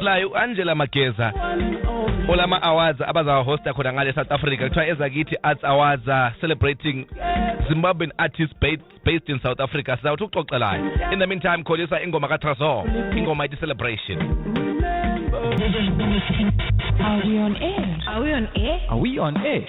layo u-angela mageza ola ma-awards abazawahosta khona ngale south africa kuthiwa ezakithi arts awards uh, celebrating zimbabwean artists based, based in south africa sizawuthi uxoxelayo in the meantime kholisa ingoma katrazor ingoma ithi celebration Are we on air? Are we on air? Are we on air?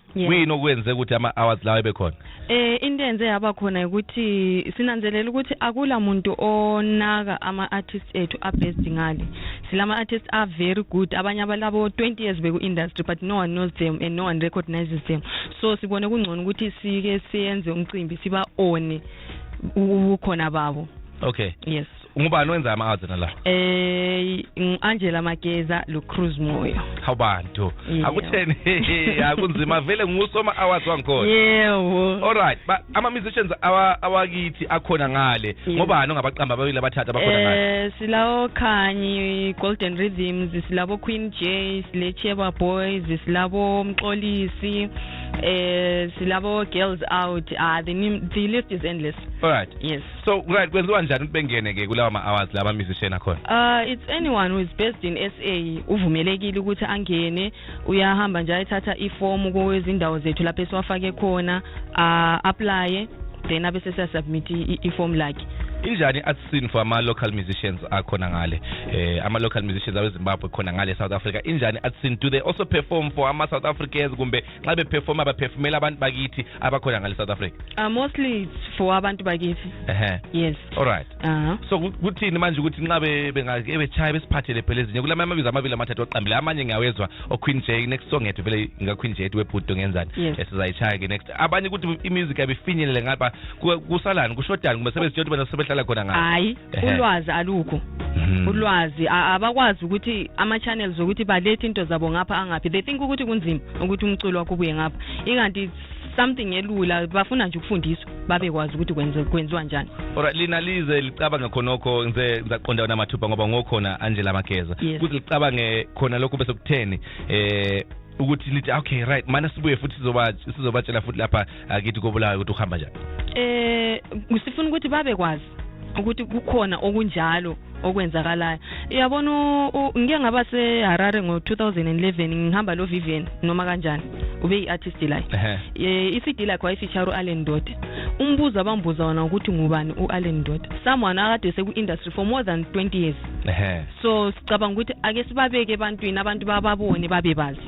Yeah. kuyini okwenze ukuthi ama-hours lawa ebe khona Eh into enze yaba khona ukuthi sinanzelela ukuthi akula muntu onaka ama artists ethu a best ngale. Silama artists are very good. Abanye abalabo 20 years beku industry but no one knows them and no one recognizes them. So sibone kungcono ukuthi sike siyenze umcimbi siba one ukhona babo. okay Yes. ungubani wenza ama-ads nala eh ngu-angela mageza lucruz moyo hawu bantu Yeah. akutheni akunzima vele ngusoma awards wangikhona yewo alright ba- ama-musicians awa- awakithi akhona ngale Yeah. ngobani ongabaqamba ababili abathathu abakhona ngale Eh silawo Khanyi Golden Rhythms silabo Queen J sile Cheba Boys silabo Mxolisi eh silabo Girls Out ah the, nim- the list is endless alright yes so right kwenziwa njani ukuthi bengene ke kulawa ma-hours laba musician akhona uh it's anyone who is based in sa uvumelekile ukuthi angene uyahamba nje ayithatha ifomu kwezindawo zethu lapho esiwafake khona uh, aplaye then abe sesiyasubmit ifomu lakhe injani i-artscene for ama-local musicians akhona ngale eh ama-local musicians awezimbabwe khona ngale south africa injani i-artscene do they also perform for ama-south africans kumbe xa bephefoma baphefumela abantu bakithi abakhona ngale south africa uh, mostly it's for abantu bakithi ehe yes all right uh -huh. so kuthini manje ukuthi nxa bengake betshaya besiphathele phela ezinye kula amabizo amabili amathathu oqambile amanye ngiyawezwa oqueen j next song yethu vele ngaqueen j ethi webhudo ngenzani yes. esizayitshaya ke next abanye ukuthi imusic abifinyelele ngapha kusalani kushodani kumbe sebesiyothi bena sebehlala khona ngapha hayi Ehe. ulwazi alukho Mhm. ulwazi a- abakwazi ukuthi ama-channels ukuthi balethe into zabo ngapha angaphi they think ukuthi kunzima ukuthi umculo wakho ubuye ngapha inganti something elula bafuna nje ukufundiswa babekwazi ukuthi kwenze- kwenziwa njani Alright, lina lize licabanga khonokho ngize ngisaqonda wena mathupha ngoba ngokhona Angela Mageza Yes. kuze licabange khona lokho bese kutheni eh ukuthi lithi okay right mana sibuye futhi sizoba sizobatshela futhi lapha akithi kobulayo ukuthi ukuhamba njani eh sifuna ukuthi babekwazi ukuthi kukhona okunjalo okwenzakalayo uyabona ngike ngaba seharare ngo-2011 ngihamba lo vivian noma kanjani ube yi-artist layo eh, i-cd lakhe wayifeature u-allen doda umbuzo abambuza wona ukuthi ngubani u-allen doda someone akade seku-industry for more than 20 years so sicabanga ukuthi ake sibabeke ebantwini abantu bababone babebazi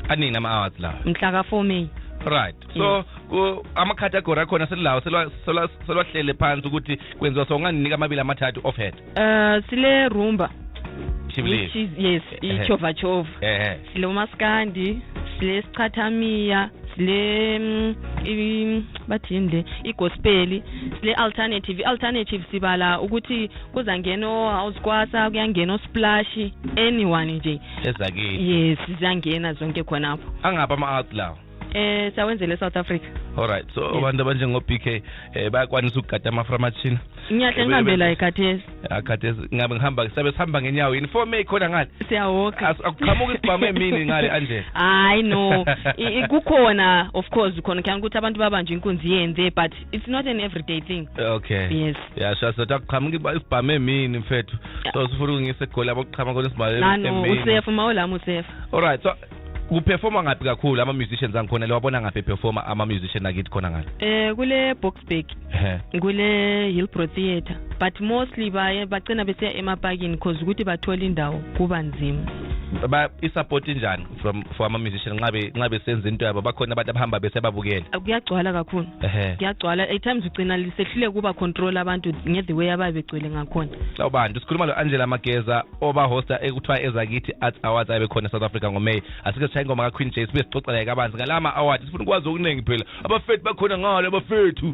aningi ama-awards lawa mhla ka-four may right so ku- amacategory akhona selilawo selwa- selwa- selwahlele phansi ukuthi kwenziwa so ungandinika amabili amathathu off head Uh, sile rumba which shibilili is yes Ehe. ichova chova ehe sile umaskandi sile sichathamiya sile mm, i- bathini le igospeli sile alternative i-alternative sibala ukuthi kuzangena o-house kwasa kuyangena osplashi anyone nje ezakithi yes ziyangena zonke khonapho angaphi ama-out lawo eh sawenzele eSouth Africa alright so abantu abanjengo BK eh bayakwanisa ukugada ama fra machine ngiyahle ngihambe la ekhathesi akhathesi ah, ngabe ngihamba sabe sihamba ngenyawo yini for me khona ngale siyawoka akuqhamuka isibhamu emini ngale anje hayi no kukhona of course khona khani ukuthi abantu babanje inkunzi yenze but it's not an everyday thing okay yes yeah sho so takuchama ngiba ibhame mini mfethu so sifuna ukungise egoli abokuchama kona sibale nano usefa uma olami usefa all right so kuperforma ngaphi kakhulu ama musicians angikhona le wabona ngaphi performa ama musician akithi khona ngale eh kule boxburg kule hillbro theatre but mostly baye bacina besiya emapakini cause ukuthi bathola indawo kuba nzima ba isupport njani from for ama musician nxa be- nxa besenza into yabo bakhona abantu abahamba besebabukela kuyagcwala kakhulu ehe kuyagcwala at times ugcina lisehlule kuba control abantu nge-the way ababe begcwele ngakhona sawubanda sikhuluma lo-angela mageza obahosta ekuthiwa ezakithi arts awards abe khona south africa ngomay asike sishaye ingoma kaqueen j sibe sixoxa laye kabanzi ngala ma-award sifuna ukwazi okuningi phela abafethu bakhona ngalo abafethu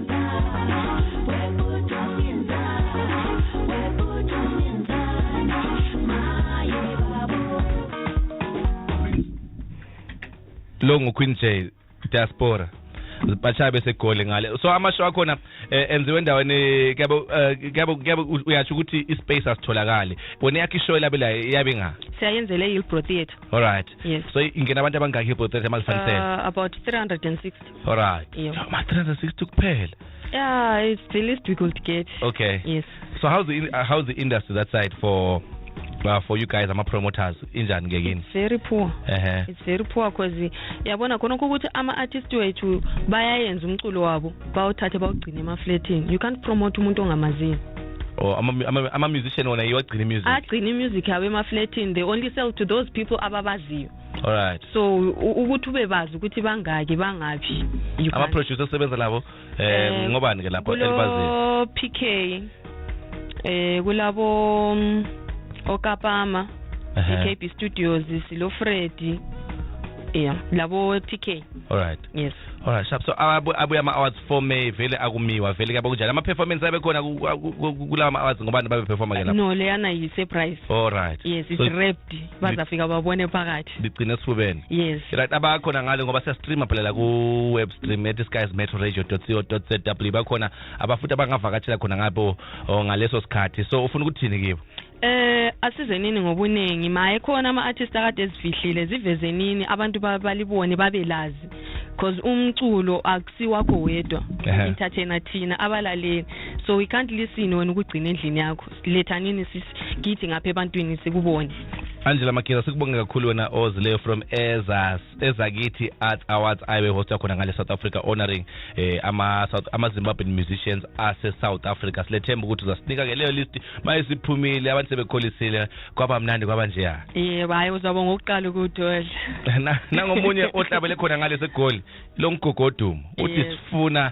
lo nguqueen j diaspora bashaye besegoli ngale so amasho akhona eh, enziwe endaweni eh, kuyabo eh, kuyabo kuyabo uyasho ukuthi ispace asitholakali bona yakhe ishow labe la iyabe nga siyayenzele Hillbrow Theatre all right yes so ingena abantu abangaki Hillbrow Theatre malifanisela uh, about 360 Alright. Yeah. So my 360 kuphela. Yeah, it's the least we could get. Okay. Yes. So how's the uh, how's the industry that side for uh, for you guys ama-promoters injani ke kini very poor uh-huh. it's very poor because yabona khona ukuthi ama-artist wethu bayayenza umculo wabo bawuthathe bawugcine emafletini you can't promote umuntu ongamazini or oh, ama-musician wona iwagcina imusic agcina imusic yabo emafletini they only sell to those people ababaziyo alright so u- ukuthi ube bazi ukuthi bangaki bangaphi you ama can't. producer osebenza labo eh Eh, ngobani ke lapho elibaziyo kulo pk eh kulabo mm, okapama Ehe. ikb studios silo freddy yeah labo pk alright yes alright sharp so abu- abuya ama awards 4 may vele akumiwa vele kuyabo kunjani ama performance abe khona ku- ku- ku- kulawa ama awards ngobani babe performa ke lapho no leyana yi-surprise alright yes it's So- wrapped bazafika babone phakathi ligcine esifubeni yes right abakhona ngale ngoba siyastreama phela la ku-web stream ethi skies metro radio co zw bakhona abafuthi abangavakatshela khona ngabo oh, ngaleso sikhathi so ufuna ukuthini kibo eh asizenini ngobuningi maye khona ama artist akade ezifihlile zivezenini abantu balibone babelazi because umculo akusiwakho wedwa entertainer thina abalaleli so we can't listen wena ukugcina endlini yakho letha nini sis kithi ngapha ebantwini sikubone angela mageza sikubonge kakhulu wena ozileyo from ezas ezakithi art awards ayibe host yakhona ngale south africa honoring eh, ama-zimbabwean ama musicians ase-south africa silethemba ukuthi uzasinika ke leyo list maye siphumile abantu sebekholisile kwaba mnandi kwaba njeya yebo hayi uzaba ngokuqala ukuwudodla nangomunye ohlabele khona ngale segoli lo mgogodumo uthi sifuna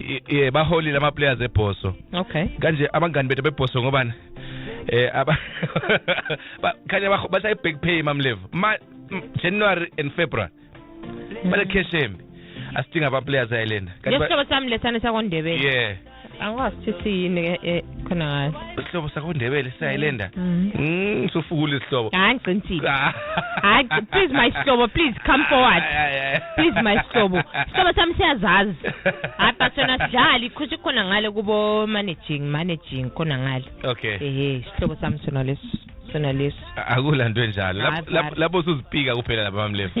i- i- baholile amaplayers ebhoso okay kanje abangani bethu bebhoso ngobani eh aba ba- khanya baho- bashaye back pay mamlevu ma m- january and february bale cash embi asidinga abaplayers ayilenda Kanti ba- ngesihlobo sami lesane sakondebele yeah angikwazi ukuthi siyini ke eh, khona ngayo isihlobo sakho ndebele siyayilenda mm. mm sufukula isihlobo hayi ngicintile ah. hayi please my sihlobo please come forward please my sihlobo isihlobo sami siyazazi hayi but sona sidlali khushi khona ngale kubo managing managing khona ngale okay ehe isihlobo sami sona leso sona leso akulanto enjalo lapho lapho usuzipika kuphela lapha mamlefu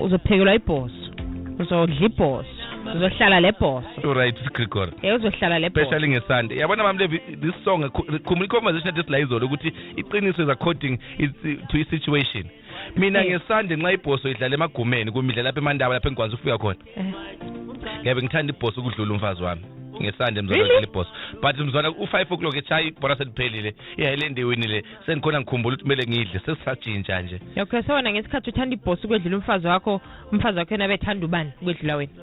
uzophekelwa ibhoso uzodla ibhoso uzohlala le boss right Gregory yeah uzohlala le boss especially ngesande yabona mama levi this song khumula conversation this la izolo ukuthi iqiniso is according is to a situation mina ngesande nxa ibhoso idlala emagumeni kumidla lapha emandaba lapha engikwazi ukufika khona eh. ngiyabe ngithanda ibhoso ukudlula umfazi wami ngesande mzwana really? ibhoso but mzwana u-five o'clock etshayi ibhora seliphelile ihighland iwinile sengikhona ngikhumbula ukuthi kumele ngidle sesisatshintsha nje okay sewona ngesikhathi uthanda ibhosi ukwedlula umfazi wakho umfazi wakho yena bethanda ubani ukwedlula wena